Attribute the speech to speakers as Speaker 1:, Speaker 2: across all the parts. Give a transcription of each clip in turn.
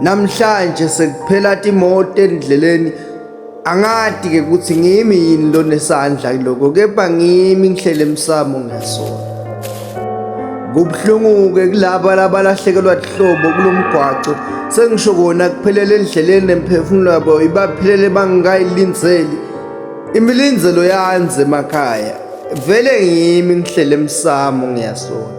Speaker 1: namhlanje sekuphela timoto endleleni angadi ke ukuthi ngimi yini lonesandla kuloko kepha ngimi ngihlele emsamo ngesona kubuhlungu-ke kulaba labalahlekelwa lihlobo kulo mgwaco sengisho kona kuphelele endleleni nemphefumulo yabo ibaphelele bangikayilinzeli imilinzelo yanze emakhaya vele ngimi ngihlele emsamo ngiyasona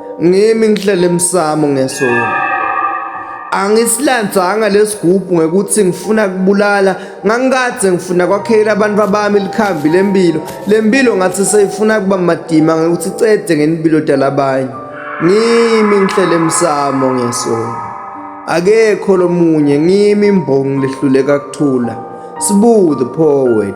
Speaker 1: ngimi ngihlele emsamo ngesona angisilandzanga lesigubhu ngekuthi ngifuna kubulala ngangikadze ngifuna kwakhela abantu abami likhambi lempilo lempilo ngathi seyifuna kuba madima ngekuthi cede ngenimpilo dalabanye ngimi ngihlele emsamo ngesona akekho lomunye ngimi imbongi lehluleka kuthula sibu the poet